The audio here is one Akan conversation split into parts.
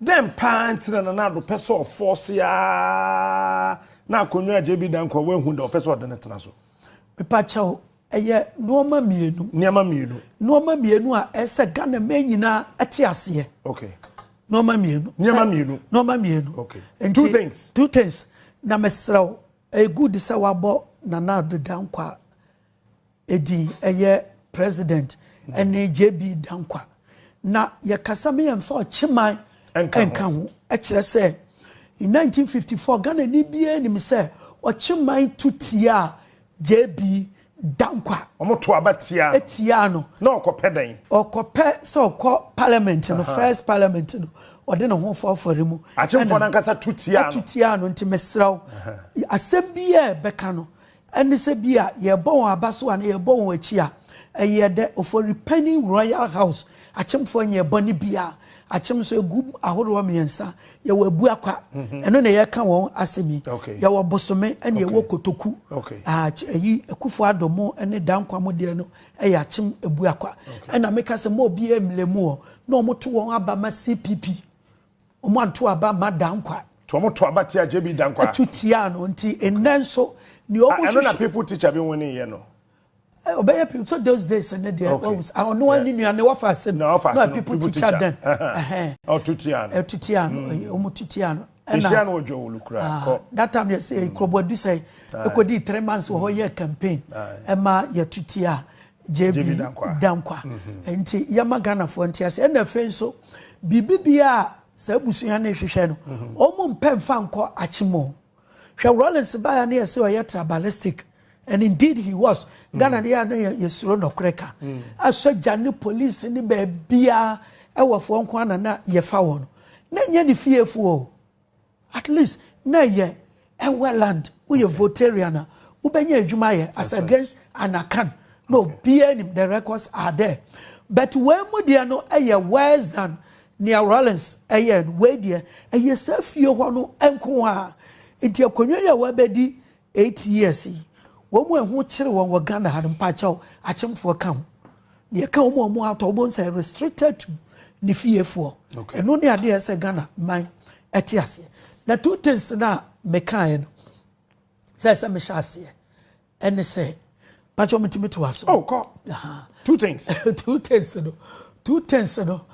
Dɛn paa nti na Nana Addo pɛ sɛ ɔfɔɔse ara na akonnwa a JB da nkwa wanhu da ɔpɛ sɛ ɔde no tena so? Mepa kyɛw, ɛyɛ nnoɔma mmienu. Nneɛma mmienu. Nnoɔma mmienu a ɛsɛ sɛ Ghana man nyinaa te aseɛ. Okay. Nnoɔma mmienu. Nneɛma mmienu. Nnoɔma mmienu. Okay. Nti, two things. Two things. Na mesrɛ wo, ɛyɛ good sɛ wabɔ Nana Addo Dankwa edin ɛyɛ president ɛne JB Dankwa na yɛkasa me yɛn fa ɔkyeman ɛnka ho ɛkyerɛ sɛ in 1954 Ghana ni bie nim sɛ ɔkyeman tu tia JB Dankwa ɔmo to aba tia tia no na ɔkɔpɛ dɛn ɔkɔpɛ sɛ ɔkɔ parliament no first parliament no ɔde ne ho fɔfɔre mu akyemfo nankasa tu tia no tu tia no nti mesrɛw asɛm bi yɛ bɛka no Ɛne sɛ bi a yɛrebɔ wɔn aba so anaa yɛrebɔ wɔn akyi a, ɛyɛ dɛ. Ofori Panyin Royal House akyemfoɔ nyɛɛ bɔne biara. Akyem nso, ɛgu ahoroɔ mmiɛnsa. Yɛwɔ Abuakwa, ɛno na yɛreka wɔn asɛm yi. Yɛwɔ Bosome ɛna yɛwɔ Kotoku. Ayi, Akuffo Addo mo ne Danquah mo deɛ no yɛ akyem Abuakwa. Ɛna meka sɛ mma obiara mmlɛ mu hɔ na wɔto wɔn aba ma CPP. Wɔanto aba mma Dankwa. Nti wɔn to aba tia JB Dankwa. To tia no nti nnɛ nso nea wɔn hwehwɛ. Ɛno na people teacher bi win yɛ no. Ɔbɛyɛ people so those days ɛnɛ deɛ wɔn wusa ɔno ani nua ne wafa ase no. Na wafa ase no people teacher then. Ɔto tia no. Ɛto tia no wɔn to tia no. Ehyia no odwo wulu kura kɔ. That time yɛ sɛ kurobo adusɛn ekodi three months wɔ hɔ yɛ campaign ɛma yɛ to tia JB Dankwa. Mm-hmm. Nti yɛma Ghanafoɔ nti ase. Ɛna afei nso, biribi bia a saa abusua no hwehwɛ no, mm-hmm. wɔn mpɛ mfa nkɔ akyem o. Hwɛ Rawlings baeɛ ne yɛsɛ ɔyɛ tribalistic. And indeed he was. Mm-hmm. Ghana deɛ a na yɛsuro nɔkorɛ ka. Mm. Asogya ne police ne baabiara ɛwɔfoɔ nko ana na yɛfa wɔn. Na nyɛ ne fiefoɔ o. At least na ɛyɛ ɛwɛ land woyɛ votarian a wobɛnya adwuma ayɛ as against anakan na obiara nim the records are there but wei mu deɛ no ɛyɛ worse than nea Rawlings ɛyɛ no wei deɛ ɛyɛ saa fie hɔ no nko a nti akonnwa yi a wabɛdi Eight years yi, wɔn mu a ɛho kyere wɔn wɔ Ghana ha no, mpaakyɛw, akyemfoɔ ka ho. Deɛ ɛka wɔn a wɔn atɔ, wobɛhu sɛ ɛyɛ restricted to ne fiefoɔ. Ɛno ne adeɛ a ɛsɛ Ghana man ɛte aseɛ. Na two things no a mekaeɛ no, sɛ ɛsɛ mehyɛ aseɛ, ɛne sɛ, mpakyɛw metumi to aso. Oh, kɔ. Aha. Two things. two things no, two things no,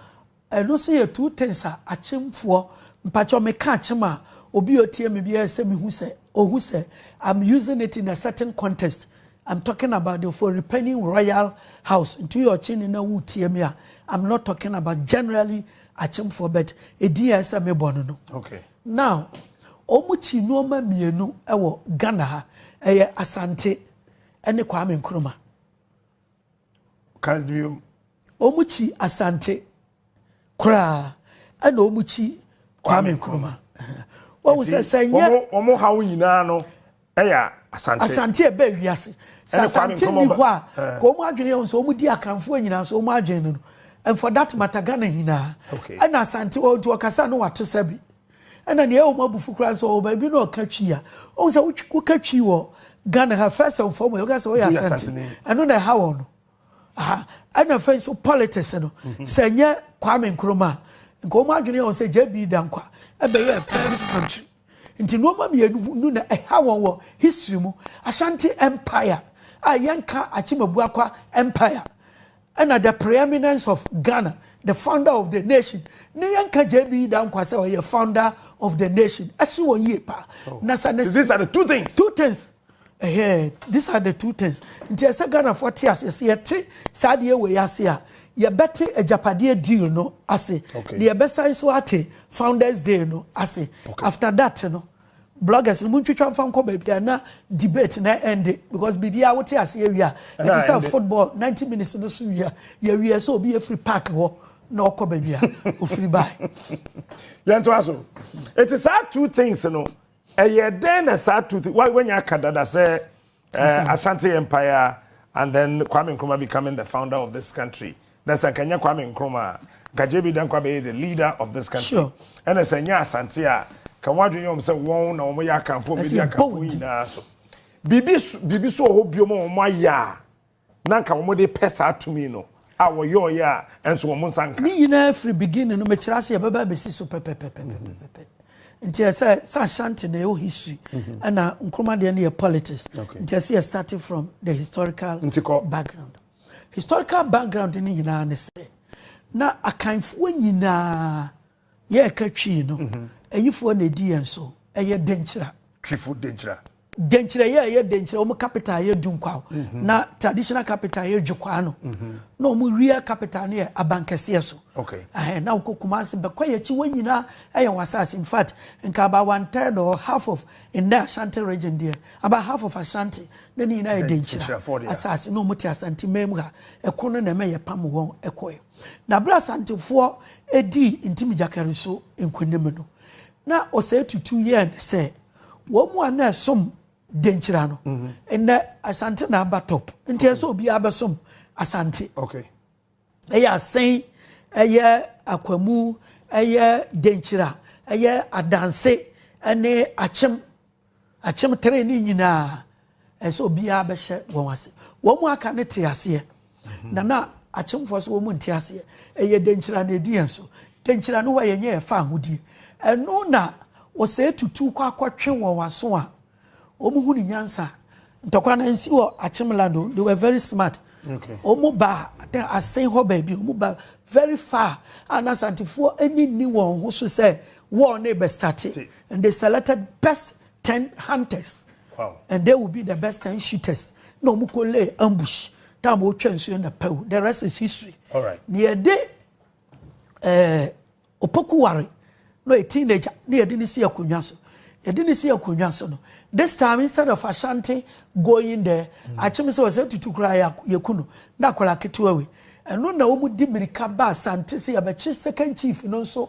Ɛno nso yɛ two things a akyemfoɔ, mpakyɛw me ka akyem a, obi a ɔtie me biara sɛ me hu sɛ, ɔhu sɛ I'm using it in a certain context, I'm talking about the Ofori-Panyin Royal House, nti woyɛ ɔkyeni na woretie me a, I'm not talking about generally akyemfoɔ but edin a ɛyɛ sɛ mebɔ no no. Okay. Now, wɔn kyi nneɛma mmienu wɔ Ghana ha, ɛyɛ Asante ne Kwame Nkrumah. Ka bio. Wɔn kyi Asante koraa ɛna wɔn kyi Kwame Nkrumah. Wɔn sɛ sɛ nyɛ. Wɔn wɔn haw nyinaa no ɛyɛ Asante. Asante ɛbɛ wiase. Sɛ Asante ni hɔ a, eh. ka wɔn adwene yɛn sɛ wɔn di Akanfoɔ nyinaa so wɔn adwene no no. And for that matter Ghana nyinaa. Okay. Ɛna Asante wɔn nti wɔkasa no wato sɛ bi. Ɛna nea ɛwɔ mu abufu koraa sɛ ɔwɔ baabi na ɔka twi a ɔhu sɛ woka twi wɔ Ghana ha first and foremost woka sɛ ɔyɛ asante ɛno na ɛha wɔn no aha ɛna afei nso politics no mhm. sɛ nyɛ Kwame Nkrumah nka wɔn adwene yɛ wɔn sɛ JB Dankwa ɛbɛyɛ first country nti nneɛma mmienu no na ɛha wɔn wɔ history mu Ashanti empire a yɛnka Akyemabua kwa empire Ɛna the preeminence of Ghana the founder of the nation ne yɛn ka JB Dankwa sɛ ɔyɛ founder of the nation ɛsi wɔ yie paa oh. na sa ne these are the two things two things ɛhɛn these are the two things nti ɛsɛ Ghana fo te ase ɛsɛ yɛte saa deɛ wɔ yɛ ase a yɛbɛte agyapadeɛ deal no ase na yɛbɛsan so ate founders day no ase after that no. Bloggers no montwitwa mfa nkɔ baabi a na debate na ɛnde because biribiara wote ase awie a ɛte sɛ football 90 minutes no so wie a yɛwie sɛ obi afiri park hɔ na ɔkɔ baabi a ofiri bae. Yɛntoa so. Eti saa two things no ɛyɛ dɛn na saa two things wanya aka dada sɛ Eh, Asante Empire and then Kwame Nkrumah becoming the founder of this country. Na sɛ nka nyɛ Kwame Nkrumah a, nka JB Dankwa bɛyɛ the leader of this country. Sure. Ɛna sɛ nyɛ Asante a, ka wɔn adwene yɛ wɔn sɛ wɔn na wɔn yɛ akanfo, wɔn bɛdi akanfo nyinaa so. Biribi biribi so wɔ hɔ biom a wɔn ayɛ a. na anka wɔn de pɛ saa tumi no a wɔyɔɔyɛ a ɛnso wɔn nsa nka. Ne nyinaa firi beginning no mekyerɛ ase yɛbɛba abɛsi so pɛpɛpɛpɛpɛpɛ nti ɛsɛ sɛ ashanti na ɛwɔ history ɛna nkroma deɛ no yɛ politics nti ɛsɛ yɛ starting from the historical background historical background no nyinaa ne sɛ na akanfoɔ nyinaa Yɛreka Twi no, ayifoɔ na ɛdi yɛn so, ɛyɛ Denkyira. Twifo Denkyira. Denkyira yɛ ɛyɛ Denkyira, wɔn capital yɛ Dunkwao, na traditional capital yɛ Dwokwaa no, na wɔn real capital no yɛ Abankɛseɛ so. Okay. Ɛhɛn, na wokɔ Kumasi, Bɛkwayi akyi, wɔn nyinaa ɛyɛ wɔn asaase. In fact, nka about one third or half of nnɛ Ashanti region deɛ, about half of Ashanti, na ne nyinaa yɛ Denkyira asaase, na wɔn te Asanteman mu ha. Ɛko no na ɛma yɛpam wɔn kɔɛ. Na bere a Asantefoɔ dii Ntimigyakari so nkonim no, na Osei Tutu yɛ ne sɛ wɔn mu a na ɛsom Denkyira no, nnɛ Asante na aba top. Nti ɛsɛ sɛ obiara bɛsom Asante. Okay. Ɛyɛ Asen, ɛyɛ Akwamu, ɛyɛ Denkyira, ɛyɛ Adanse, ɛne Akyem. Akyem tere ne nyinaa, ɛsɛ sɛ obiara bɛhyɛ wɔn ase. Wɔn mu aka no te aseɛ, na na akyemfoɔ so wɔn mu nte aseɛ. Ɛyɛ dankyira na ɛdi yɛn so. Dankyira no hɔ a yɛnyɛ yɛfa ahodie. Ɛno na ɔsɛe tutu kɔ akɔtwe wɔn aso a wɔn hunu nyansa. Ntɔkwa no nsi wɔ akyem land o, they were very smart. Okay. Wɔn ba asen hɔ baabi, wɔn ba very far. Ana santifoɔ ani nni wɔn ho so sɛ wɔn ne bɛ starte. And they selected best ten hunters. Wow. And they will be the best ten shooters. Na wɔn kɔ lay ambush. Time wɔn twɛ nsuo na pɛw. The rest is history. All right. Na yɛ de ɛɛ eh, opoku ware na yɛ teenager na yɛ de ne si akonnwa so. Yɛ de ne si akonnwa so no. This time instead of Ashanti going there, mm. akyem sɛ wɔsɛ tutu kura yɛ kunu na akɔla ketewa wei. Ɛno na wɔn di mirika ba Asante sɛ yɛbɛkye second chief no nso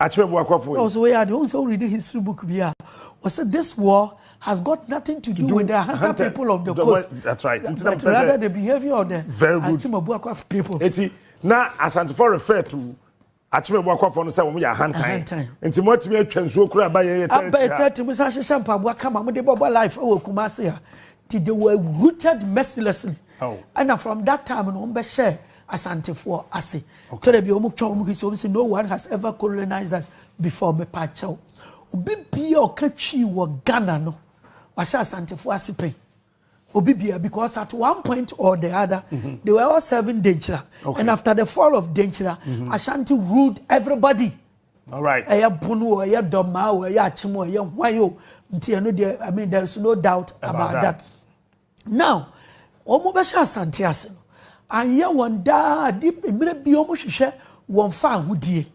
Akyerɛ boakwafo yi. Ɔsɛ woyɛ ade ohun sɛ wo read history book bi a ɔsɛ this war has got nothing to do with the hunter people of the coast that's right but rather the behavior of the Akyerɛ boakwafo people. Eti na Asantefo refer to Akyerɛ boakwafo no sɛ wɔn yɛ ahantan nti mo atumi atwa nsuo kura aba yɛ yɛ tɛrɛti ha. Aba yɛ tɛrɛti mo san hyehyɛ mpaboa kama mo de bɔbɔ life wɔ Kumasi ha ti they were rooted mercilessly ɛna from that time no wɔn bɛ hyɛ. Asantefoɔ ase. Twerɛ bi a wɔn twa wɔn history wɔn sɛ no one has ever colonized us before mepa kyɛw. Obi bia ɔka twi wɔ Ghana no wahyɛ Asantefoɔ ase pɛn. Obi bia because at one point or the other mm -hmm. they were all serving Denkyira okay. and after the fall of Denkyira mm -hmm. Ashanti ruled everybody. All right. Ɛyɛ Bono o ɛyɛ Dɔmaa o ɛyɛ Akyem o ɛyɛ Hwan o nti ɛno deɛ I mean there is no doubt about, about that. that. Now wɔn bɛ hyɛ asante ase no anyɛ wɔn daa ade mmerɛ bi wɔn hwehwɛ wɔn fa ahodie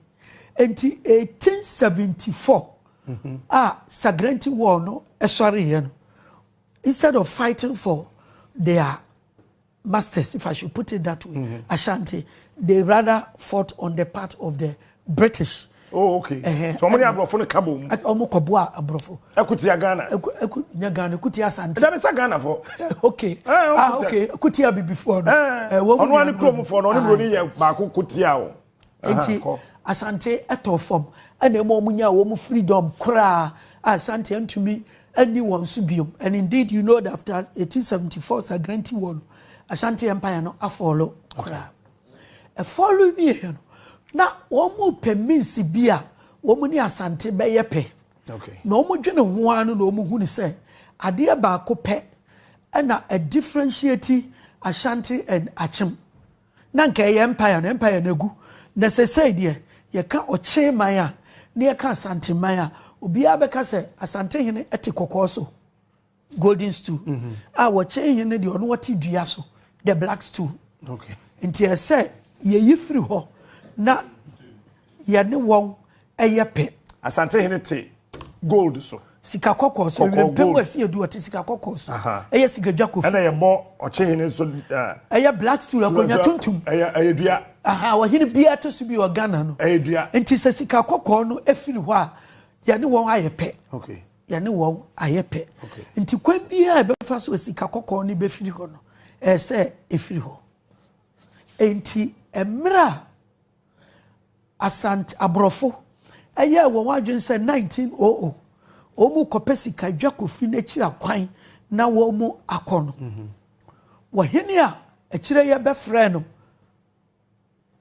nti 1874 mm-hmm. a Sagrenti war no ɛsɔre yɛ no instead of fighting for their masters if I should put it that way mm-hmm. Ashanti they rather fought on the part of the British. Oh, okay. Uh -huh. So, ọmọ ni aborɔfo no ka bɔ mu. Ọmọ kɔ boa aborɔfo. Ekutia Ghana. Eku eku nya Ghana ekutia Asante. Ẹja mi sa Ghana fo. Okay. Eh, ah, okay. Ekutia bibifo no. Eh, wɔn mu. Ɔno ani kurom fo no, ɔne buroni yɛ baako kutia o. Nti Asante ɛtɔ fam ɛna ɛma wɔn nya wɔn freedom koraa a Asante ntumi ɛni wɔn so biom and indeed you know that after 1874 Sagrenti war no Asante empire no afɔlo koraa. Ɛfɔr no wiei no, na wɔrepɛ means bi a wɔne Asante bɛyɛ pɛ. Na wɔdwene ho ara no na wɔhunu sɛ adeɛ baako pɛ na ɛdifferentiate Ashanti and Akyem. Na anka ɛyɛ Empire no, Empire no agu. Na seesei deɛ, yɛka Ɔkye man a, na yɛka Asante man a, obiara bɛka sɛ Asantehene te kɔkɔɔ so. golden stool a wɔkyɛn hɛn no deɛ ɔno ɔte dua so the black stool nti ɛsɛ yɛyi firi hɔ na yɛne wɔn ɛyɛ pɛ. asante hene te gold so. sika kɔkɔɔ so ewira mpɛ mu ɛsi edu ɔte sika kɔkɔɔ so ɛyɛ sika dwa kofi. ɛna yɛ bɔ ɔkye hene so. ɛyɛ black stool akonnwa tuntum. ɛyɛ ɛyɛ dua. aha ɔhene bia te so bi wɔ ghana no. ɛyɛ dua. nti sɛ sika kɔkɔɔ no efiri hɔ a yɛne wɔn ayɛ pɛ. okay. yɛne wɔn ayɛ pɛ nti kwan biara ɛbɛfa so sika kɔkɔɔ no bɛfiri hɔ no ɛyɛ sɛ ɛfiri hɔ nti mmerɛ a asante aborɔfo ɛyɛ wɔn adwene sɛ 1900 wɔn kɔpɛ sika dwa kofi n'akyiri akwan na wɔn akɔ no wɔhene a akyire yɛ bɛfrɛ no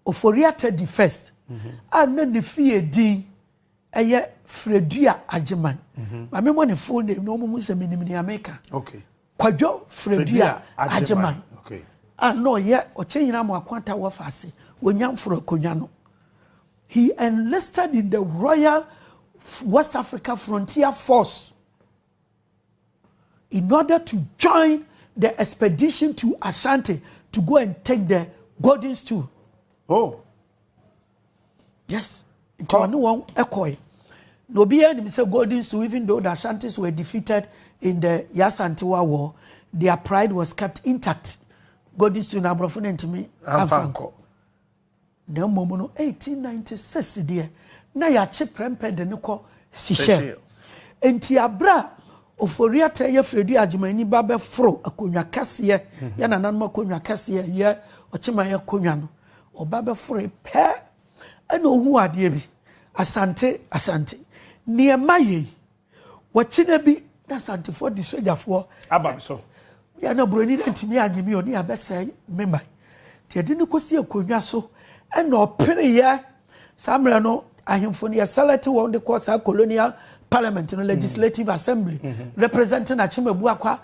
Ofori Atadi First a na ne fie din yɛ Fredua Agyeman. Ma memmɔ ne full name na wɔnhu sɛ menim nea meka. Kwadwo Fredua Agyeman a na ɔyɛ Ɔkyɛnyina Amoako Ata Wɔfa ase wɔ Nyamforo Akonnwa no. He enlisted in the Royal West Africa Frontier Force. in order to join the expedition to Ashanti to go and take the golden stool. Oh. Yes. Nti ɔne wɔn ɛkɔe. Na obiara nim sɛ golden stool even though the Ashantis were defeated in the Yasantewa war, their pride was kept intact. Golden stool na aborɔfo no ntumi amfa nkɔ. Na mmom no, 1896 deɛ, na yɛakye prɛmpɛ de no kɔ Seychelles. Enti aberɛ a Ofori-Atta yɛ Fredu Agyeman-Nyi ba bɛforo akonnwa kɛseɛ, yɛ nananom akonnwa kɛseɛ a ɛyɛ Ɔkyeman akonnwa no, ɔba bɛforoe pɛ na ɔhuu adeɛ bi, Asante, Asante, neɛ ɛma yei. Wɔkyena bi na Asantefoɔ de sogyafoɔ aba me so. Yɛ na Buroni no antumi anye me o ne abɛsɛe me man. Nti ɛde no kɔsi akonnwa so ɛna ɔpereeɛ. Saa mmerɛ no ahemfo no yɛselɛte wɔn de kɔ saa colonial parliament no, legislative assembly, representing Akyem Abuakwa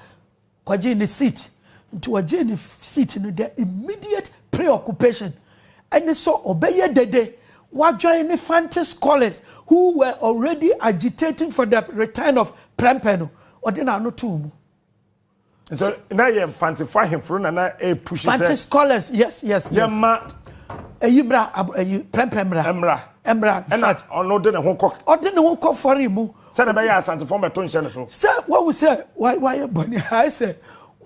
Ɔgyee ne seat. Nti ɔgyee ne seat no dɛ immediate preoccupation ne sɛ ɔbɛyɛ dede ɔadwen ne Fante scholars who were already agitating for the return of Prempeh no. Ɔde n'ano too mu. Nti na yɛ Mfantefo ahemfo no na na ɛrepush sɛ. Fante scholars, yes, yes, yes. Yɛmma. Ɛyi mmra, ɛyi Prempeh mmra. Mmra. Mmra. Ɛna ɔno de ne ho kɔ. Ɔde ne ho kɔ fɔre mu. sɛdeɛ ɛbɛyɛ a asantefoɔ mmɛto nhyɛ ne so. sɛ wahu sɛ wayɛ bɔne ayɛ sɛ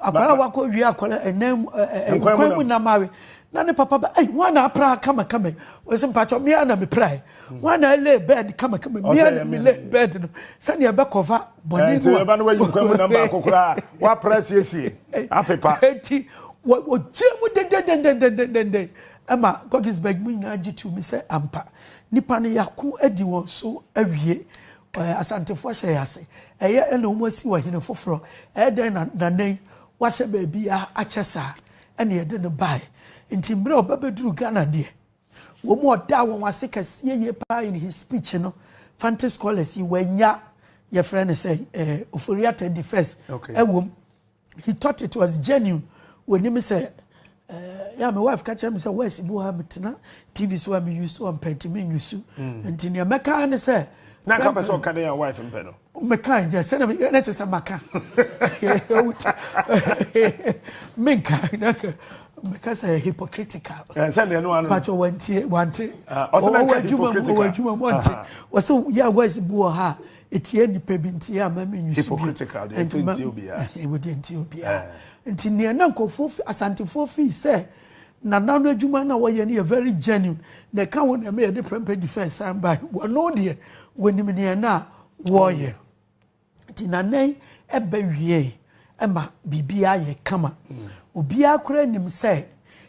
akwara wakɔ wie akwara ɛnan mu nkwan mu nam awe na ne papa ba ɛyi wɔn na apra kamakama yi wɔn sɛ mpatsɔ mmea na mepra yi wɔn na ɛlɛ bɛɛd kamakama mmea na mi lɛ bɛɛd no sɛnea ɛbɛ kɔfa bɔne no a ɛnti ɛba no wayi nkwan mu nam baako koraa wapra siesie apepa ɛnti wɔgyina mu dendendendendendenden ɛma gɔgisbɛg mu nyinaa gye tu mi sɛ ampa Nipa no yako adi wɔn so awie. Ɔɛ Asantefo ahyɛ yɛ ase. Ɛyɛ na wɔn asi ɔhene foforɔ. Ɛyɛ dɛn na nana yi wahyɛ baabiara akyɛ saa? Ɛna yɛde no baeɛ. Nti mmerɛ ɔba bɛduru Ghana deɛ, wɔn mu ɔdaa wɔn ase kɛseɛ yie pa ara in his speech no, Fante scholars yi, wɔannya, yɛfrɛ no sɛn, ɛɛ Ofori-Atta the first, ɛwɔ mu. He thought it was genuine. Wɔnim sɛ eh, yɛ me wife ka kyerɛ me sɛ wɛsi bi wɔ ha metena TV so a me use wɔ mpɛ nti me nyusu. Mm. Nti nea mɛka ne sɛ. Na nka pɛ sɛ ɔka dɛ yɛ wife mpɛ no. Mɛka nyɛ sɛ na me na kyerɛ sɛ maka. Menka na mɛka sɛ hypocritical. Eh, sɛ deɛ no ano. Pàtó wɔntie wɔnte. Ah, ɔsɛ mɛka hypocritical. Wɔwɔ adwuma mu wɔnte. Ah. Wɔsɛ yɛ wɛsi bi wɔ ha Etia nnipa bi nti a ma me nyi so bio. Hypocritical deɛ ɛsɛ ntia obiara. Ɛwɔ deɛ ntia obiara. Nti neɛ na nkurɔfoɔ fi Asantefoɔ feel sɛ Nana no adwuma na wɔyɛ no yɛ very genuine na ɛka ho na ɛma yɛde prɛmpɛ defense san bae. Wɔno deɛ wɔnim neɛ na wɔyɛ. Nti Nana yi ɛbɛ wieɛ ɛma biribiara yɛ kama. Obiara koraa nim sɛ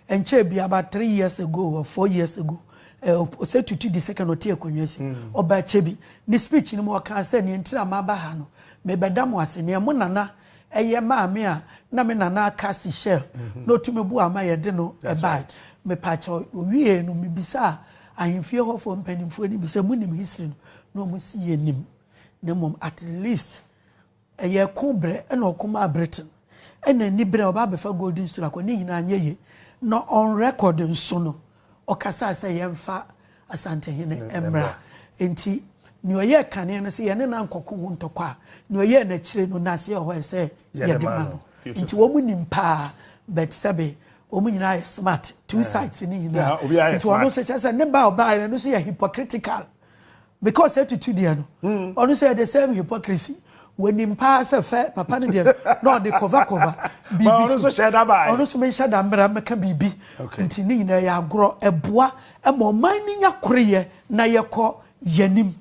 ɛnkyɛɛ bi about three years ago or four years ago ɔsɛ tutu di second ɔte akonnwa si ɔba akyɛ bi ne speech no mu ɔkaa sɛ nea ntira ma aba ha no mebɛda mo ase nea mo nana ɛyɛ maame a na me nana aka si shell na ɔtumi bu ama yɛde no ɛbae mepaakyɛ owie no mebisa ahemfie hɔfoɔ mpanimfoɔ no bi sɛ monim history no na ɔmo si yɛ nim na mmom at least Ɛyɛ ɛko berɛ na ɔko maa Britain ɛna ani berɛ a ɔba abɛfa Golden Stool akɔ ne nyinaa anyɛ yie na on record nso no ɔkasaa sɛ yɛmfa Asantehene mmra nti nea ɔyɛɛ kane no sɛ yɛne no ankɔko ho ntɔkwa a nea ɔyɛɛ no akyire no nase ɛhɔ ɛsɛ yɛde ma no nti wɔn nim paa but sɛbe wɔn nyinaa yɛ smart two sides ne nyinaa nti ɔno nso kyɛ sɛ ne ba ɔbaa no nso yɛ hypocritical Because etutu deɛ no, ɔno nso yɛ the same hypocrisy. Wɔnim paa sɛ fɛ papa no deɛ no na ɔde cover cover biribi so. Ɔno nso hyɛ da ba ayɛ. Ɔno nso menhyɛ da mmra mmɛka biribi. Nti ne nyinaa yɛ agorɔ. Ɛboa ma ɔman no nya koreyɛ na yɛkɔ yɛn anim.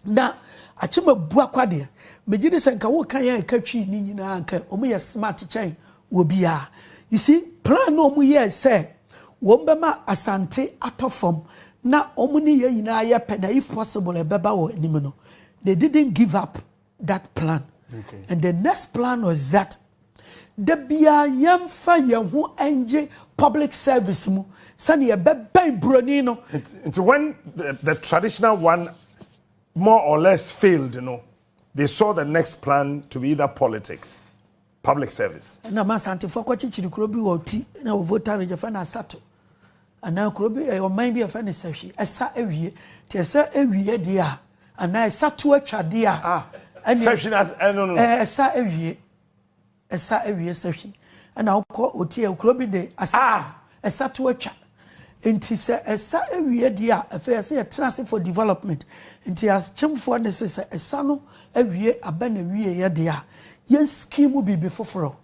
Na Akyem Abuakwa deɛ, megye di sɛ nka woreka yɛn a ɛka Twi no nyinaa a, nka wɔyɛ smart kyɛn wɔ biaa. You see plan no ɔmo yɛɛ sɛ wɔn bɛma Asante atɔ fam na ɔmo ne yɛn nyinaa yɛ pɛ na if possible ɛbɛba wɔ anim no they didn't give up that plan and the next plan was that da biaa yɛn fa yɛn ho ngye public service mu sɛnea yɛbɛbɛn broni no. Nti when the, the traditional one more or less failed no they saw the next plan to be either politics. Public service. Ɛna ma Asantefoɔ kɔkyekyere kuro bi wɔ Ɔti na wɔ Volta Region yɛfrɛ no Asato anaa kuro bi ɛyɛ ɔman bi a yɛfrɛ no Sahwi ɛsa awie nti ɛsa awie deɛ a anaa ɛsa to atwa deɛ a ah, ɛne Sahwi na ɛno no ɛsa awie ɛsa awie Sahwi ɛna wokɔ Ɔti ɛyɛ kuro bi de Asato ah. Ɛsa to atwa. Nti sɛ ɛsa awie deɛ a, afei ɛsɛ yɛtena ase for development. Nti akyemfoɔ nne se sɛ ɛsa no awie aba n'awieɛ deɛ a, yɛn scheme biribi foforɔ.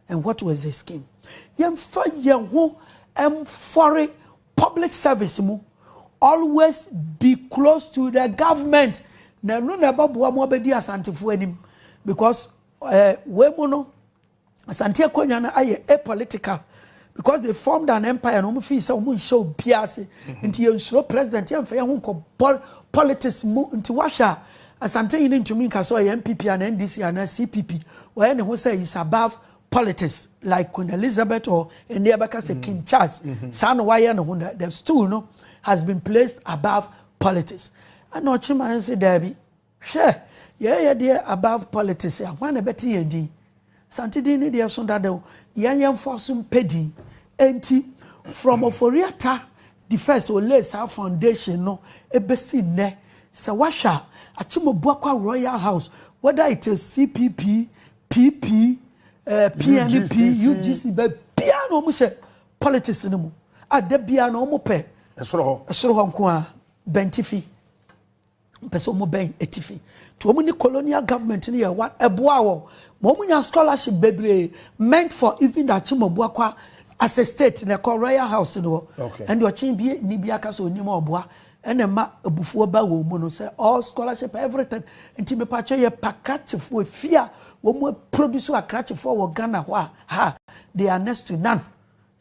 And what was the scheme? Yɛmfa yɛn ho mfɔre public service mu. Always be close to the government. Na ɛno na ɛbɛboa mo abɛdi asantefoɔ anim. Because eh, wei mu no, Asante akonwa no ayɛ a political because they formed an empire na wɔn fii sɛ wɔn nhyɛ obiara ase nti yɛn nsuro president yɛn nfa yɛn ho nkɔ bɔl politics mu nti wahwɛ a asante yi ne ntumi nka sɛ ɔyɛ npp ana ndc ana cpp wɔyɛ ne ho sɛ is above politics like queen elizabeth or ɛnni ɛbɛka sɛ king charles saa na wayɛ ne ho na the stool no has been placed above politics ɛna ɔkye ma yɛn sɛ daabi. Hwɛ, yɛɛ yɛ deɛ above politics a, hwan na ɛbɛte yɛn din? Asante din no deɛ so dada o, yɛn yɛnfoɔ so mpɛ din. Enti, from Ofori-Atta the first ɔlayed saa foundation no bɛsi nnɛ, sɛ woahwɛ a, Akyem-Obuakwa Royal House, whether it is CPP, PP, eh, PNP, UGC, UGC baabiara na wɔn hyɛ politics no mu a, da biara na wɔn pɛ Ɛsoro hɔ. ɛsoro hɔ nko ara, bɛntifi. Wɔpɛ sɛ wɔn bɛn atifi. To wɔn ne colonial government no yɛ one ɛboa wɔn ma wɔn nya scholarship bebree meant for even the Akyemɔboa kwa as a state na ɛkɔ royal house no hɔ. Okay. Ɛnde ɔkyen bi ni bi aka sɛ onim ɔboa ɛna ɛma abufuo ba wɔn mu no sɛ all scholarship everything nti mepatwa yɛ pa krakyefoɔ efi a wɔn produce akrakyefoɔ wɔ Ghana hɔ a ha they are next to none.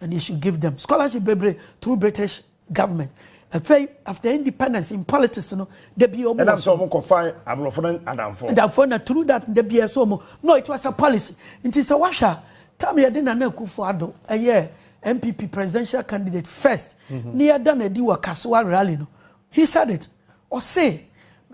And you should give them scholarship bebree through British government. Afei after independence in politics no dabi omo. Ɛna sɛ ɔmo kɔ fa aborɔfo no adamfo. Adamfo na through that dabi ɛsɛ ɔmo. No it was a policy. Nti sɛ wahwɛ a tam yɛde Nana Akufo Addo ɛyɛ NPP presidential candidate first mm-hmm. ne yɛda na ɛdi wɔ Kasoa rally no he said it. Ɔse,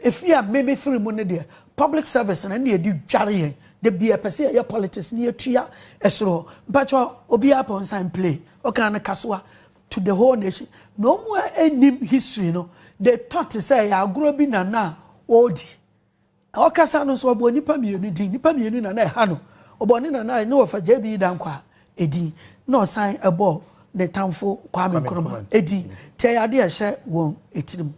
Efie a me me firi mu no deɛ public service no na yɛde dware yɛn, da biaa pɛ sɛ yɛyɛ politics na yɛtua ɛsoro hɔ. Mpakyɛ obiaa pɛ ɔnsan play ɔkaa no kasoa to the whole nation. Na ɔmo a nnim history no they thought sɛ ɛyɛ agorɔ bi na na ɔɔdi. Ɔkasa no nso, ɔbɔɔ nnipa mmienu din. Nnipa mmienu na na ɛha no. Ɔbɔɔ ne nana ne wɔfa JB Dankwah din, na ɔsan bɔɔ ne tamfo Kwame Nkrumah din. Nti ɛyɛ adeɛ a ɛhyɛ wɔn tirim.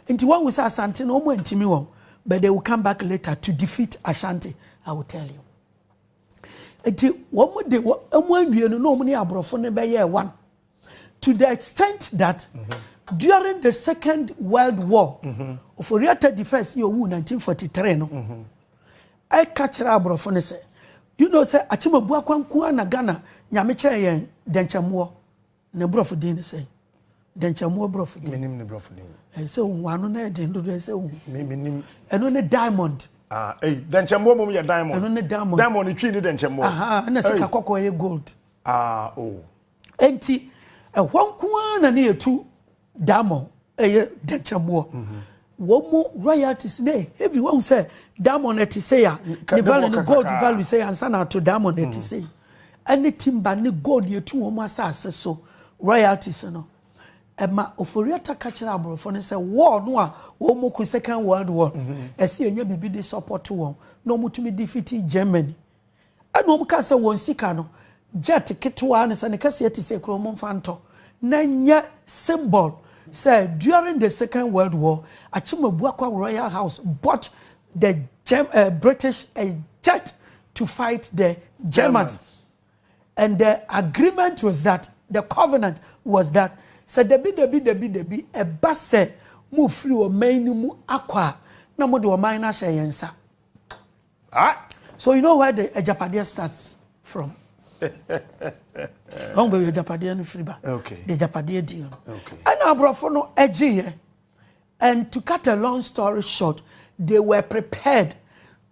Nti wɔahu sɛ Asante no, wɔantumi wɔn, but they will come back later to defeat Ashanti, I will tell you. Nti wɔn de wɔn anwie no na wɔn ne aborɔfo no bɛyɛɛ one. to the extent that mm -hmm. during the second world war mm -hmm. oforiata di first yɛ owu 1943 no mm -hmm. ɛka kyerɛ aborɔfo no sɛ you know sɛ akyemabu akwanko a na ghana nyame kyɛɛ yɛn dɛnkyɛmmoɔ na borɔfo din ne sɛ dɛnkyɛmmoɔ borɔfo din menim ne borɔfo din ɛyɛ sɛ ohun ano na ɛden dodo ɛyɛ sɛ ohun menim ɛno ne diamond ah ɛyi dɛnkyɛmmoɔ mom yɛ diamond ɛno ne diamond diamond twi ne dɛnkyɛmmoɔ aha ɛna sika kɔkɔɔ yɛ gold ah oh Enti ɛhɔ nko ara na ne yɛtu diamond ɛyɛ dɛnkyɛmmoɔ wɔn mu royalties na heavy wɔn sɛ diamond ɛte sɛ ya ne value ne gold value sɛ ansa na ato diamond ɛte mm. sɛ ɛne timba ne gold yɛtu wɔn mu asase so royalties no ɛma oforiata ka kyerɛ aborɔfo no sɛ wɔɔ no a wɔn mu ko second world war ɛsi ɛnyɛ biribi de support wɔn na wɔn tumi defeat germany. Ɛna wɔkaa sɛ wɔn sika no, jet ketewaa ne sɛ ne kɛseɛ te sɛ kuro momfa ntɔ na nyɛ symbol sɛ during the second world war, Akyemabuakwa Royal House bought the Germ uh, British a jet to fight the Germans. And the agreement was that, the covenant was that, sɛ dabi dabi dabi dabi ɛba sɛ mofiri ɔman no mu akɔ a na mode ɔman no ahyɛ yɛn nsa. Ah! So you know where the agyapadeɛ starts from? Ɔn baabi agyapadeɛ no firi ba. Okay. The agyapadeɛ deal. Okay. Ɛna aborɔfo no ɛgyeeɛ. And to cut a long story short, they were prepared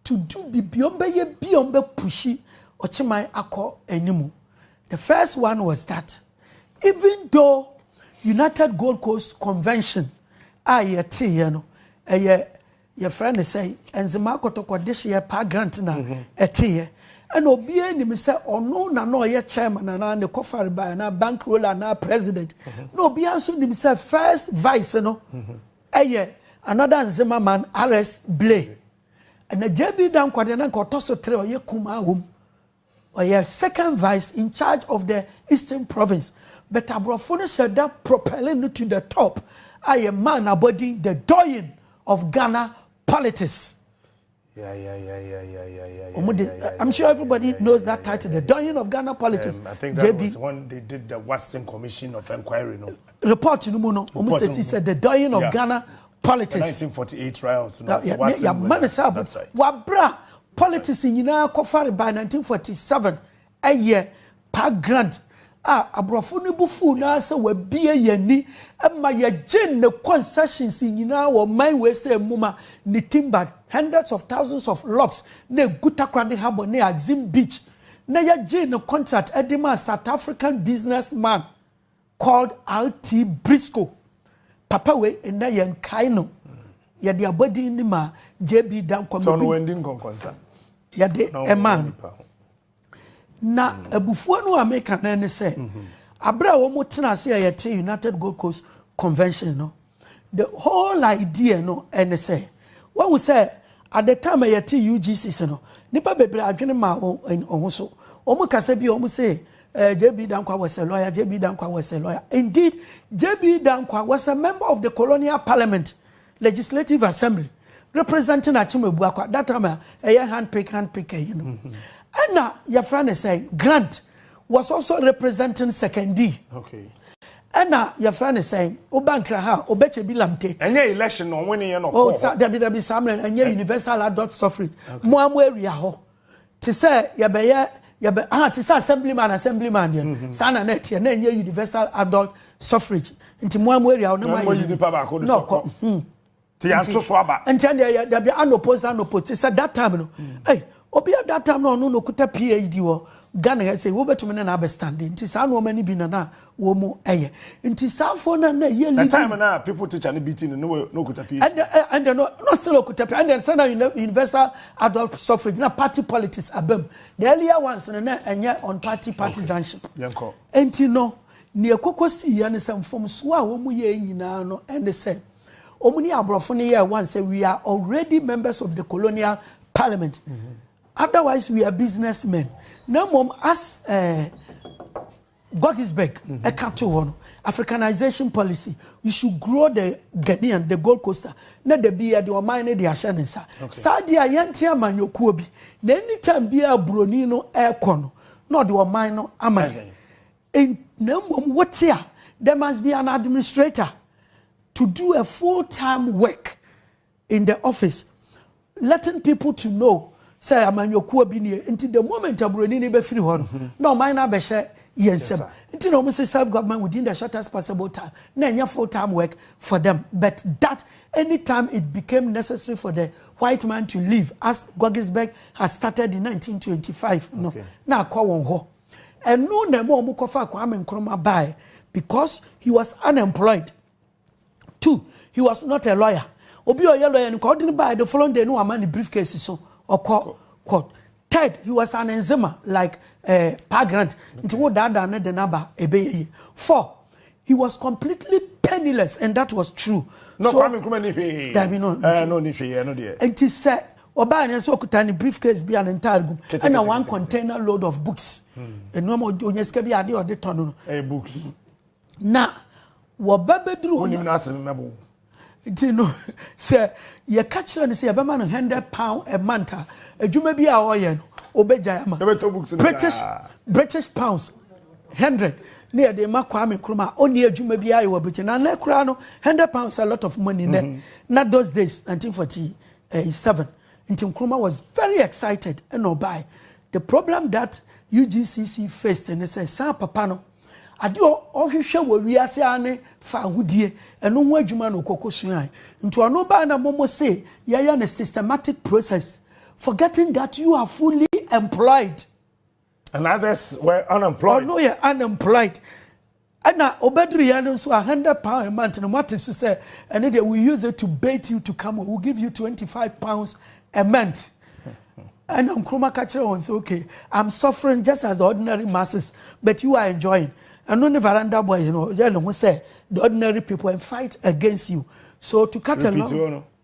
to do bibi wɔn bɛyɛ bi wɔn bɛ pushi ɔkyeman akɔ anim. The first one was that even though United Gold Coast Convention a yɛteeɛ no ɛyɛ Yɛfrɛ no sɛ Enzima Akɔtɔkɔ Dehyeɛ Pa Grant na ɛteeɛ. Ɛna obiara nim sɛ ɔno na na ɔyɛ chairman anaa ne kɔfare bae anaa bankrola anaa president. Na obiara nso nim sɛ first vice no yɛ another Nzema man RS Blay. Ɛna JB Dankwah deɛ na nka ɔtɔ so tere ɔyɛ kumaa wom. Ɔyɛ second vice in charge of the Eastern Province, but aborɔfo no hyɛ da propelling no to the top a yɛ maa no abɔdin the doyen of Ghana politics. Wɔn de, I'm sure everybody knows that title, the doyen of Ghana politics. Um, I think that JB. was when they did the Watson Commission of Inquiry. No? Report no mu no, wɔn sɛ si sɛ the doyen of yeah. Ghana politics. The 1948 trials. No, yeah, yeah, man, that's right. Wabra. Politics nyinaa kɔfare by 1947 ɛyɛ Park Grant a aborɔfo no bo fuw no ara sɛ wabue yɛn ani ma yɛgyee ne concessions nyinaa wɔ ɔman wei sɛ mmuma ne timbered hundreds of thousands of logs na egu Takoradi Harbour ne Axim Beach na yɛgyee ne contract de maa South African businessman called RT Briscoe. Papa wei nnɛ yɛn kae no. Yɛde abɔdin ni ma JB Dankwa. Sɛ ɔno wɔn di nkɔnkɔnsa. Yɛde ɛmaa no. Na abufuo no a meka no ne sɛ, abere a wɔn tena ase a yɛte United Gold Coast Convention no. The whole idea no ne sɛ, wahu sɛ at the time a yɛte UGCC no, nnipa bebree adwene mmaa wɔn ho so. Wɔn kasa bi a wɔn se eh, JB Dankwa was a lawyer, JB Dankwa was a lawyer. Indeed, JB Dankwa was a member of the colonial parliament, legislative assembly, representing Akyem Abuakwa, that time a ɛyɛ handpick handpick ɛyi no. Ɛna yɛfrɛ ne sɛ grant. was also representing Sekondi. Okay. ɛna yɛfrɛ ne sɛn woba nkra ha ɔbɛkyɛ bi lamte ɛnyɛ election no ɔwene yɛ no ɔkɔɔ oh, hɔ dabi dabi saa mmerɛ ɛnyɛ universal adult suffrage mo a mo awia hɔ te sɛ yɛbɛyɛ yɛbɛ ah te sɛ assemblyman assemblyman deɛ mm-hmm. saa na na ɛteɛ na ɛnyɛ universal adult suffrage nti mo a mo awia hɔ na mo ayɛ nipa baako de sɔkɔ Ti yɛn to so aba. Nkyɛn deɛ yɛ dabi anopo nsa anopo ti sɛ that time no. Ɛy obi a that time no ɔno na okuta PhD wɔ Ghana ha sɛ wobɛtumi ne na abɛ stand nti saa nneɛma no bi na na wɔn ɛyɛ nti saa foɔ na na ɛyɛ leading. The time na people teacher no bi ti no na wɔ na okuta PhD. Ɛnde ɛnde no na still okuta PhD ɛnde sɛ na universal adult suffrage na party politics abam the earlier ones no na ɛnyɛ on party partisanship. Okay yɛn kɔ. Nti no nea ɛkɔkɔ sii yɛ ne sɛ mfomsoɔ a wɔn yɛ nyinaa no ɛne sɛ. Wɔn ne aborɔfo no yɛɛ one sɛ we are already members of the colonial parliament mm -hmm. otherwise we are business men na mmom as uh, Gogisberg ɛka mm -hmm. to hɔ no africanization policy you should grow the Ghanaian the Gold Coaster na da bi yɛde ɔman no de ahyɛ ne nsa saa deɛ a yɛnte amanyɔkuo bi na anytime biara buroni no ɛrekɔ no na ɔde ɔman no ama yɛn. And na mmom wote a, there must be an administrator to do a full time work in the office letting people to know sɛ amanyɔkuo bi nie nti the moment aburoni no bɛfiri hɔ no mm-hmm. na ɔman no abɛhyɛ yɛn nsam nti na wɔn sɛ serve government within the shortest possible time na ɛnyɛ full time work for them but that anytime it became necessary for the white man to leave as Goggisberg had started in 1925 no na akɔ wɔn hɔ. Ɛno na ɛma wɔn kɔfa Kwame Nkrumah baeɛ because he was unemployed. Two, he was not a lawyer. Obi a ɔyɛ lawyer no kɔ ɔde no baeɛ the following day no wama ne briefcase so ɔkɔ court. Third, he was an enzima like uh, eh, Pa Grant. Nti wo daadaa ne de n'aba ɛbɛyɛ yie. Four, he was completely penniless and that was true. No, so, Kwame Nkrumah ni hwee. Dabi no. Eh, no ni hwee, ɛno deɛ. Nti sɛ Ɔbae no nso ɔkuta ne briefcase bi a ne ntaade gum ɛna one container load of books. Nneɛma ɔnya sika bi adeɛ ɔde tɔ no no. Ɛyɛ books. Na wɔba bɛduru hɔ no. Wonim no bo. Nti no sɛ yɛka kyerɛ no sɛ yɛbɛma no hundred pound a month a adwuma bi a ɔyɛ no ɔbɛgyae ama. Ɛbɛtɔ books no British British pounds hundred ne yɛde ma Kwame Nkrumah a ɔnni adwuma bi ayɛ wɔ Britain na nɛ koraa no hundred pounds a lot of money nɛ mm-hmm. na those days 1940 ɛɛ seven nti Nkrumah was very excited ɛna ɔbae the problem that UGCC faced ne sɛ saa papa no adeɛ a ɔhwehwɛ wɔ wiase ara ne fa ahodie ɛno ho adwuma na ɔkɔkɔ suae nti ɔno baa na momo se yɛyɛ ne systematic process forgetting that you are fully employed. And others were unemployed. Ɔno yɛ unemployed. Ɛna obeduru yɛn no nso a hundred pound a month no moate so sɛ ɛne deɛ we use it to bait you to come we give you twenty five pounds a month. Ɛna Nkrumah ka kyerɛ wɔn sɛ okay I'm suffering just as the ordinary masses but you are enjoying. Ɛno ne veranda boy no yɛ ne ho sɛ the ordinary people and fight against you. So to cut a long.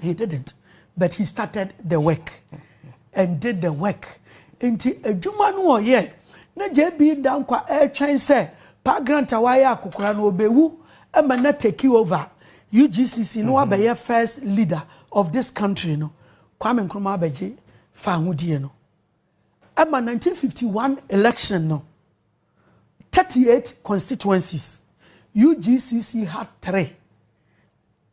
He didn't, but he started the work and did the work. Nti adwuma no ɔyɛ na JB da nkwa ɛretwɛn sɛ Pa Grant a wayɛ akokora no ɔbɛwu ɛma na take over UGCC no wabɛyɛ first leader of this country no. Kwame Nkrumah abɛgye fahodie no. Ɛma 1951 election no 38 constituencies UGCC had three.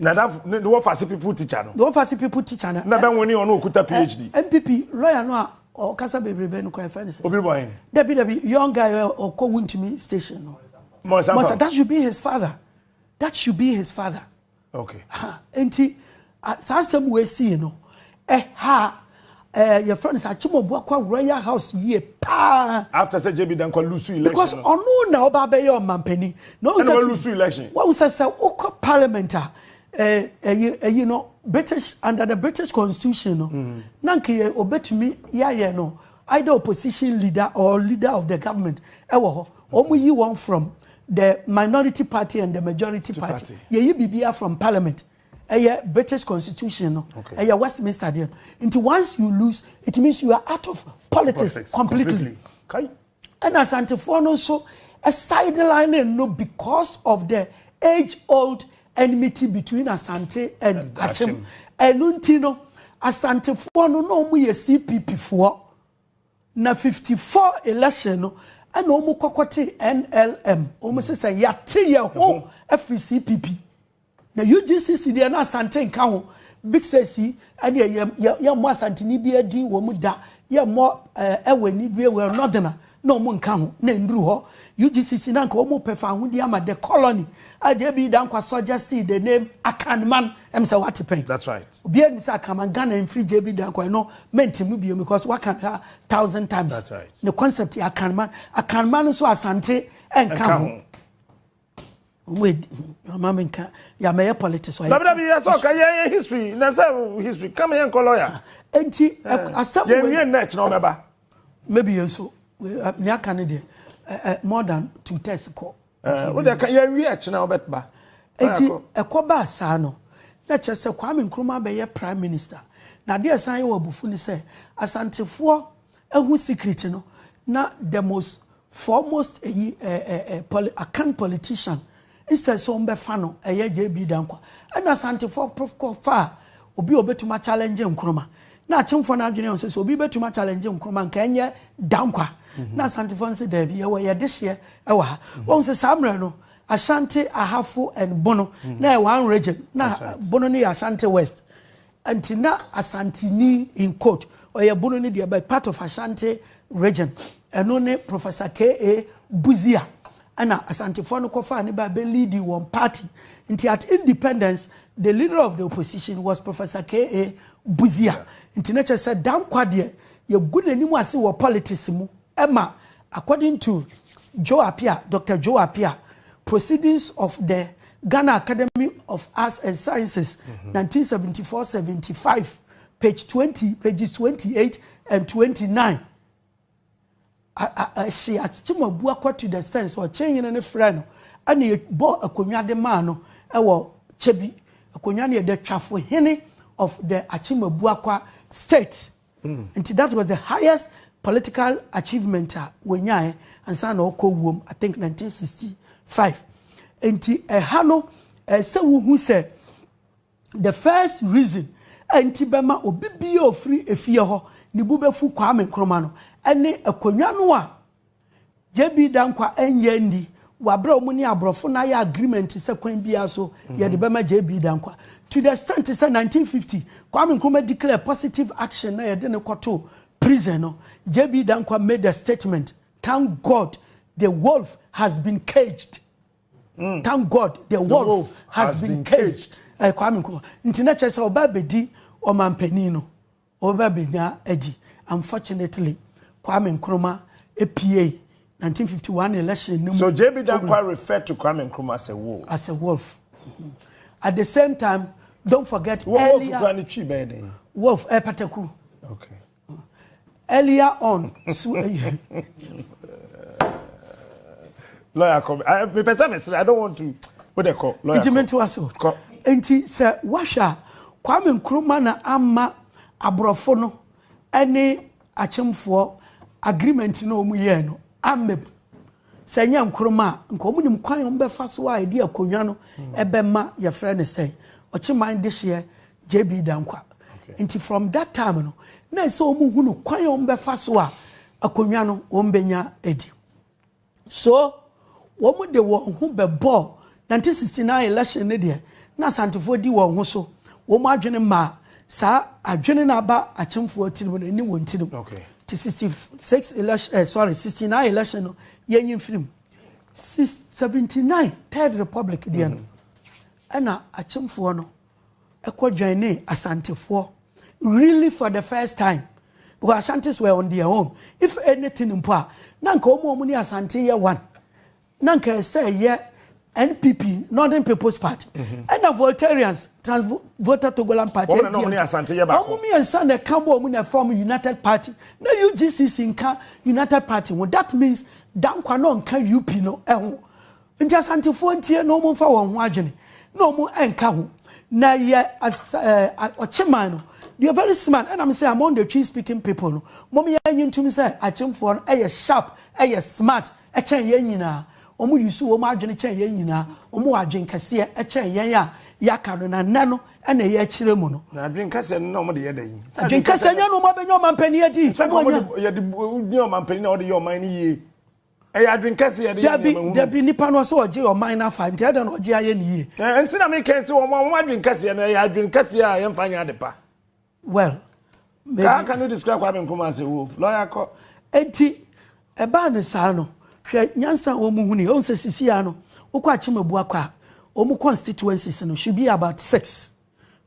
Nadafo ne ne wɔfase people teacher no. Ne wɔfase people teacher no. Na bɛ nwene ɔno okuta PhD. NPP lawyer no a ɔkasa bebrebe no kora ɛfɛ ne sɛ. Obi bɔ hen. Dabi dabi young guy ɔkɔ wuntumi station no. Mɔsa Mɔsa that should be his father that should be his father. Okay. Nti saa asɛm wɔ esi no Ɛha ɛɛ yɛfrɛ no sɛ Akyemɔboa kɔ awura yɛ house yie paa. After sɛ JB Dankwa lusu election no. Because ɔno na ɔba abɛyɛ ɔmampanin. Na ɔwɔ sɛ. Ɛna walusu election. Wɔn sɛ sɛ wokɔ parliament a ɛɛ ɛyi ɛyi no British under the British constitution no. Mm. Na nka yɛ obetumi yɛayɛ no either opposition leader or leader of the government ɛwɔ hɔ. Wɔn yi wɔn from the minority party and the majority party. Yɛyi biribiara from parliament. ɛyɛ British constitution no ɛyɛ Westminster deɛ no nti once you lose it means you are out of politics, politics completely ɛna asantefoɔ no nso sideline no because of the age old enmity between asante and akyem ɛno nti no asantefoɔ no na wɔn yɛ cpp foɔ na fifty four election no ɛna wɔn kɔkɔ te nlm wɔn sɛ sɛ yate yɛ ho afiri cpp. Na UGCC deɛ na Asante nka ho, big six yi ɛdeɛ yɛ yɛ yɛ mmɔ Asanteni biara din wɔ mu da, yɛ mmɔ ɛɛ ɛwɔ ani bie wɔ Northerner na wɔn nka ho, na ɛnduru hɔ. UGCC na nka wɔn pɛ fawohodie ama the colony a JB Dankwa suggested the name Akanman, ɛm sɛ wate pɛn? That's right. Obiara nim sɛ Akanman, Ghana mfiri JB Dankwa, ɛno mɛntim no biom because waka no a thousand times. That's right. Ne concept yɛ Akanman, Akanman nso Asante ɛnka ho. Mama mi nka ya mɛ yɛ politics ɔyɛ. Dabida bi yɛ sɛ ɔka yɛ yɛ history na sɛ history kama yɛ nkɔ lawyer. Nti asɛm wei. Yɛ nwie nnɛ kyerɛ ɔbɛba. Maybe yɛ nso ne aka ne deɛ more than two thirds kɔ. Wo deɛ yɛ nwie kyerɛ ɔbɛba. Nti ɛkɔ baa saa no na kyerɛ sɛ Kwame Nkrumah bɛyɛ prime minister. Na adeɛ san yɛ wɔ abufu ne sɛ asantefoɔ Ehu secret no na the most foremost eyi eh eh eh poli akan politician instead sɛ ɔmbɛfa no ɛyɛ JB Dankwa ɛna Asantefoɔ prof kɔ faa obi a obetumi a challenge Nkrumah na Akyemfoɔ no adwene ɔsɛ sɛ obi betumi a challenge Nkrumah nka ɛnyɛ Dankwa na Asantefoɔ no sɛ daabi yɛwɔ yɛ dehyeɛ ɛwɔ ha wɔn sɛ saa mmerɛ no Ashanti Ahafo and Bono na ɛyɛ one region na Bono no yɛ Ashanti West Nti na Asanteni, in quote, Ɔyɛbono no deɛ but part of Ashanti region, ɛno ne Professor KA. Busia ɛna Asantefoɔ no kɔfaa no baa bɛ leadi wɔn party. Nti at independence the leader of the opposition was Professor KA. Busia. Nti na kyerɛ sɛ Danquah deɛ yɛgu n'anim ase wɔ politics mu. Ɛma according to Joe Appiah, Doctor Joe Appiah, Proceedings of the Ghana Academy of Arts and Sciences, mm -hmm. 1974, 75, page 20, pages 28 and 29. Ɛhye akyem abu akɔ to the stand sɛ ɔkyɛn yene ne frɛ no ɛna ɛbɔ akonnwa de maa no ɛwɔ kyɛbi akonnwa no yɛ the twafo hene of the akyem abu akɔ state. Nti that was the highest political achievement a wɔnyaeɛ ansa na ɔkɔ wuom, I think 1965. Nti ɛha no, ɛsɛ wohu sɛ the first reason a nti bɛma obi bia ofiri efie hɔ ne bu bɛfu Kwame Nkrumah no, ɛne akonnwa no a JB Danquah ɛnyɛ nni wɔ aberɛ a wɔn ne aborɔfo no ayɛ agreement sɛ kwan biara so yɛde bɛma JB Danquah to the extent sɛ 1950 Kwame Nkrumah declare positive action na yɛde no kɔtoo prison no JB Danquah made a statement thank God the wolf has been caged mm. thank God the wolf, the wolf has, has been, been caged, caged. Uh, Kwame Nkrumah nti na kyerɛ sɛ ɔba abɛdi ɔmanpanin no Ɔreba benya adi. Unfortunately, Kwame Nkrumah epiei 1951 election no mu. So JB Danquah refer to Kwame Nkrumah as a wolf? As a wolf. At the same time, don't forget earlier. Wolf kura ne twi bɛyɛ dɛn? Wolf ɛyɛ pataku. Okay. Earlier on, so. Lawyer kɔ mi. Ayi mepɛ sɛ mesere. I don't want to. Wo de kɔ. Lawyer kɔ. Nti mentoa so. Kɔ. Nti sɛ woahwɛ a, Kwame Nkrumah na ama aborɔfo no ne akyemfoɔ agreement no a wɔyɛɛ no amma mu. Sɛ ɛnyɛ Nkrumah a, nka wɔnim kwan a wɔbɛfa so a ɛde akonnwa no bɛma yɛfrɛ no sɛn, Ɔkyeman dehyeɛ JB Dankwa. Nti from that time no, na ɛsɛ wɔhunu kwan a wɔbɛfa so a akonnwa no wɔbɛnya adi. So wɔde wɔn ho bɛbɔɔ 1969 election no deɛ na Asantefoɔ di wɔn ho so, wɔn adwene maa saa adwene no aba Akyemfoɔ tirim no ɛne wɔn tirim nti 66 election eh, sorry 69 election no yɛnyi mfiri mu 79 third republic deɛ no ɛna Akyemfoɔ no kɔ joinee Asantefoɔ really for the first time because Ashantis were on their own if anything mpo a na nka wɔn a wɔn ne Asante yɛ one na nka ɛsɛ yɛ NPP Northern People's Party mhm. ɛna Voltarians Trans Volta Togoland Party wɔn na wɔn ne Asante yɛ baako wɔn mmiɛnsa na ɛka bɔ wɔn na ɛfam United Party na UGCC nka United Party ho that means Dankwa na ɔnka UP no ɛho. Nti Asantefoɔ ntie na wɔn nfa wɔn ho adwene na wɔn ɛnka ho na yɛ eh, ɔkyeman no deɛ very smart ɛna me sɛ among the tree speaking people no wɔn yɛ anyi ntum sɛ akyemfoɔ no ɛyɛ sharp ɛyɛ smart ɛkyɛn yɛn nyinaa wɔn yi so wɔn adwene kyɛn yɛn nyinaa wɔn wɔ adwene kɛseɛ ɛkyɛn yɛn a yɛaka no na nnɛ no ɛna ɛyɛ akyerɛ mu no. na adwene kɛseɛ no na wɔn de yɛ da yi. adwene kɛseɛ nyɛ no wɔn abɛnya ɔmanpanyin adi. sɛ wɔn yɛ de yɛ ɔmanpanyin na wɔde yɛ ɔman no yie. Ɛyɛ adwene kɛse yɛde yɛ nneɛma hunu. Dabi, dabi, nipa no ɔsɛ ɔgye ɔman no afa, nti ɛdɛn na ɔgye ayɛ ne yie? Ɛɛ, nti na me kan sɛ wɔn a wɔn adwene kɛseɛ no, ɛyɛ adwene kɛseɛ a yɛmfa nyɛ ade pa. Well, maybe. How can you describe Kwame Nkrumah as a wolf? Lawyer kɔ. Nti, ɛbaa ne saa no, hwɛ nyansa a wɔn huni, wɔn sɛ sisi a no, wokɔ Akyem Abuakwa a, wɔn constituencies no should be about six.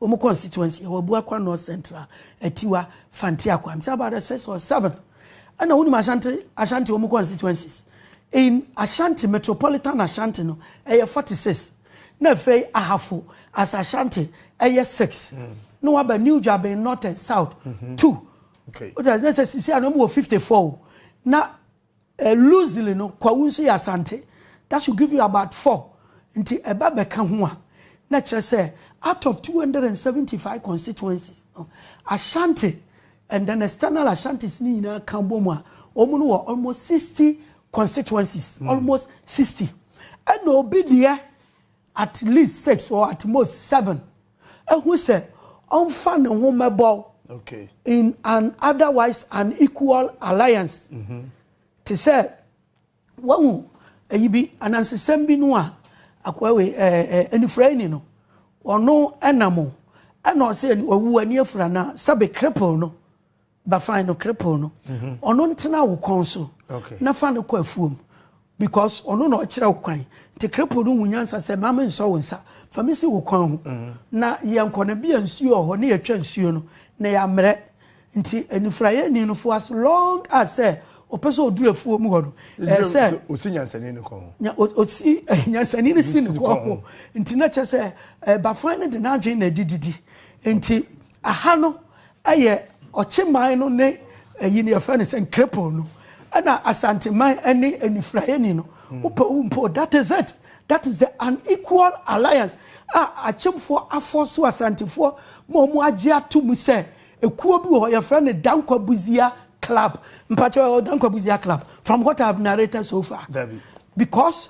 Wɔn constituency ɛwɔ Abuakwa North Central, Atiwa, Fanti Akwaa. Mte about the sixth or seventh. Ɛna wonim Ashanti Ashanti wɔn constituencies. In Ashanti metropolitan Ashanti no ɛyɛ 46. Na afei Ahafo as Ashanti ɛyɛ 6. Mm. Na waba New Dwaben North and South 2. Mm -hmm. Okay. Wọ́n sɛ sisi a na wɔn wɔ 54 o. Na Loosely no, Kwawu nso yɛ Asante. That should give you about four. Nti ɛba bɛka ho a, na ɛkyerɛ sɛ out of two hundred and seventy five constituencies no, Ashanti and then external Ashantis no nyinaa ka bom a, wɔn no wɔ almost sixty constituencies. Almost sixty. Ɛna obi deɛ at least six or at most seven. ahu sɛ ɔmfa ne ho mmɛbɔw in an otherwise unequal alliance. Mm-hmm. Te sɛ wahu ayi bi anansesɛm bi no a akoa wei anifuraeni no ɔno ɛnam o ɛna ɔsɛ ɔwu ani afura na sɛbe cripple no Ba fine no kripple no ɔno ntena wo kɔn so na fa no kɔ afuom because ɔno na ɔkyerɛ wo kwan nti kripple no hu nyansa sɛ ma me nsɔ wo nsa fa me si wo kwan ho na yɛnkɔ no bia nsuo wɔ hɔ ne yɛtwa nsuo no na yɛammerɛ nti anifuraeɛ ni no fo as long as sɛ ɔpɛ sɛ ɔduru afuo mu hɔ no ɛɛ sɛ ɔsi nyansani no kɔn ho ɔsi nyansani no si no kɔn ho nti na kyɛ sɛ bafan no de n'adwene na ɛdi didi nti Aha no yɛ Ɔkyeman no ne ayi no yɛfrɛ no sɛ Nkrepon no ɛna Asanteman ɛne Anifuraeni no wopɛ wo mpo that is it that is the unequal alliance a Akyemfoɔ afɔɔso Asantefoɔ ma ɔmo agye ato mu sɛ ekuo bi wɔ hɔ yɛfrɛ no Dankwa Buzia club mpakyɛw ɛwɔ Dankwa Buzia club from what I have narrated so far because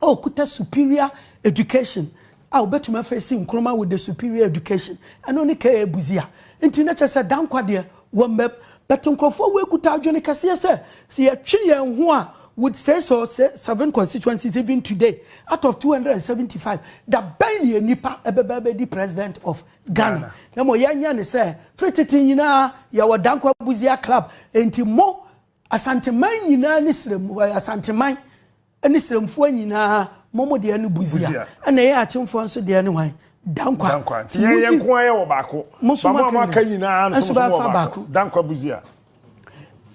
a ɔkuta superior education a ɔbɛtumi afeesi Nkrumah with the superior education, ɛno ne KA Busia. Nti na kyerɛ sɛ Dankwa deɛ wɔmmam. But nkurɔfoɔ wei kuta adwene kɛseɛ sɛ, sɛ yɛtwe yɛn ho a with six or seven constituencies even today out of 275, da bɛn ne yɛn nipa ɛbɛba abɛdi president of Ghana? Na mmom yɛnyɛ ne sɛ, firi tete nyinaa yɛwɔ Dankwa Busia club, nti mo Asanteman nyinaa ne serɛm Asanteman ne serɛmfoɔ nyinaa mo mo deɛ ne Busia ɛna yɛn akyemfoɔ nso deɛ ne hwan Dankwa Dankwa nti yɛn yɛn nko ayɛ wɔ baako ba mo a mo aka nyinaa nso mo wɔ baako Dankwa Busia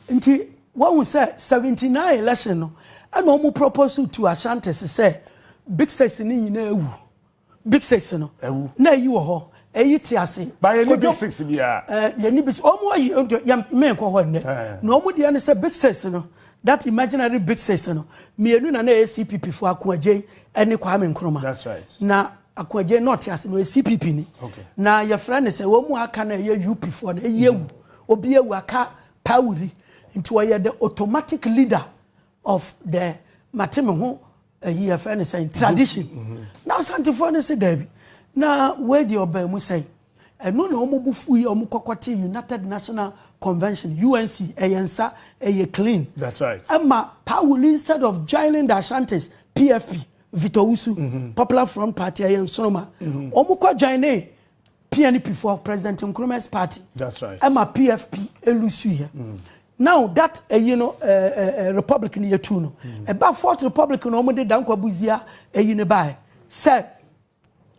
nti wahu sɛ 79 election no ɛna wɔn propose to Ashantis sɛ Big Six ne nyinaa awu. Big six no. Ɛwu. Na eyi wɔ hɔ, eyi te ase. Ba yɛ ni big six biara. Ɛɛ yɛ ni big six. Wɔn ayi nti yɛ mmɛn kɔ hɔ nnɛ. Na wɔn deɛ ne sɛ big six no that imaginary big six no mmienu na na ɛyɛ CPP fo Akoagyen ɛne Kwame Nkrumah. That's right. Na Akoagyen na ɔte ase no ɛyɛ CPP ni. Okay. Na yɛfrɛ ne sɛ wɔn mu aka na ɛyɛ UP foɔ no ɛyɛ ewu. Obi ewu aka pawuri nti ɔyɛ the automatic leader. of the mate me ho ayi yɛfrɛ no sɛn tradition na asantefoɔ no se daabi na wei deɛ ɔbaa mu sɛn ɛno na wɔn bo fu yi wɔn kɔkɔ te united national convention unc ɛyɛ nsa ɛyɛ clean that's right ɛma pawuli instead of joining the ashantis pfp Victor Usu, mm -hmm. Popular Front Party, ɛyɛ nsoroma. Mm -hmm. Wɔn kɔ join ne PNP foɔ President Nkrumah's party. That's right. Ɛma PFP elusu yɛ. Mm. Now that ɛyi no ɛɛ ɛɛ republic ni yɛ tu no. Mm. Ɛba fourth republic na wɔn de dankwa buzia ɛyi ne ba yɛ. Sɛ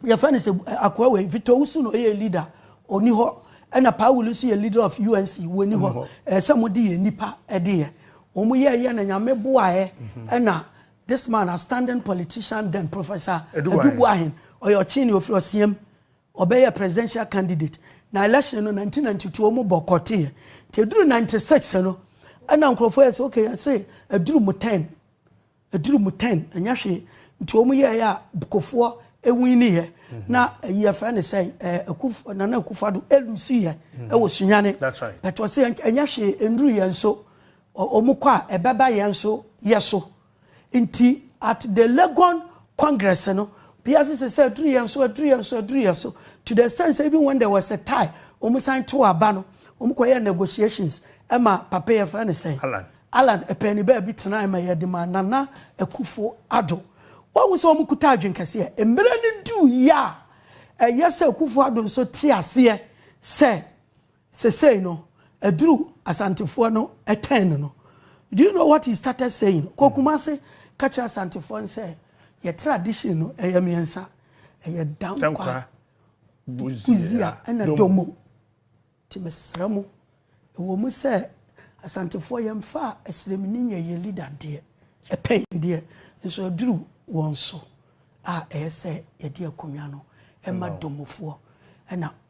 yɛfɛ ne sɛ akoa wei Victor Usu no ɛyɛ leader ɔni hɔ ɛna Paa Wuli nso yɛ leader of UNC wɔni hɔ ɛsɛ mo de yɛ nipa ɛde yɛ wɔn yɛ ɛyɛ na nyame boaɛ ɛna this man a standing politician then professor Edubuahin ɔyɛ ɔkyini ofiri ɔsiam Ɔbɛyɛɛ presidential candidate na election no nineteen ninety two ɔmo boycott yɛ nti eduru ninety six no ɛna nkorɔfoɔ yɛ sɛ okay yɛse eduru mo turn eduru mo turn ɛnyɛ hwee nti ɔmo yɛɛyɛ a Bkofoɔ ewini yɛ na ɛyi yɛfrɛ ne sɛn ɛɛ Akuf Nana Akufo Addo elusi yɛ ɛwɔ Sunyani but ɔse ɛnyɛ hwee enduru yɛn so ɔmo kɔ a ɛbɛba yɛn so yɛso. Nti at the Legon congress no, obiara sese sɛ aduru yɛn so, aduru yɛn so, aduru yɛn so, to the extent sɛ even when there was a tie, wɔn san tew aba no, wɔn kɔyɛɛ negotiations ma papa yɛfrɛ no sɛn? Alan. Alan ɛpɛɛ ne baabi tenae ma yɛde maa Nana Akufo Addo. Woahu sɛ wɔn kuta adwene kɛseɛ. Mmerɛ no duu yi a, ɛyɛ sɛ Akufo Addo nso te aseɛ sɛ Sesei no aduru Asantefoɔ no turn no. Do you know what he started saying? Ɔkɔ Kumasi ka kyerɛ Asantefoɔ no sɛ yɛ tradition no ɛyɛ mmiɛnsa. Ɛyɛ Dankwa, Buzia ɛna Domo. Nti mesrɛ mo, ɛwɔ mu sɛ Asantefoɔ yɛmfa Asiremni nyɛ yɛn leader deɛ, ɛpɛn deɛ, nso aduru wɔn so a ɛyɛ sɛ yɛde akonnwa no ma Domofoɔ ɛna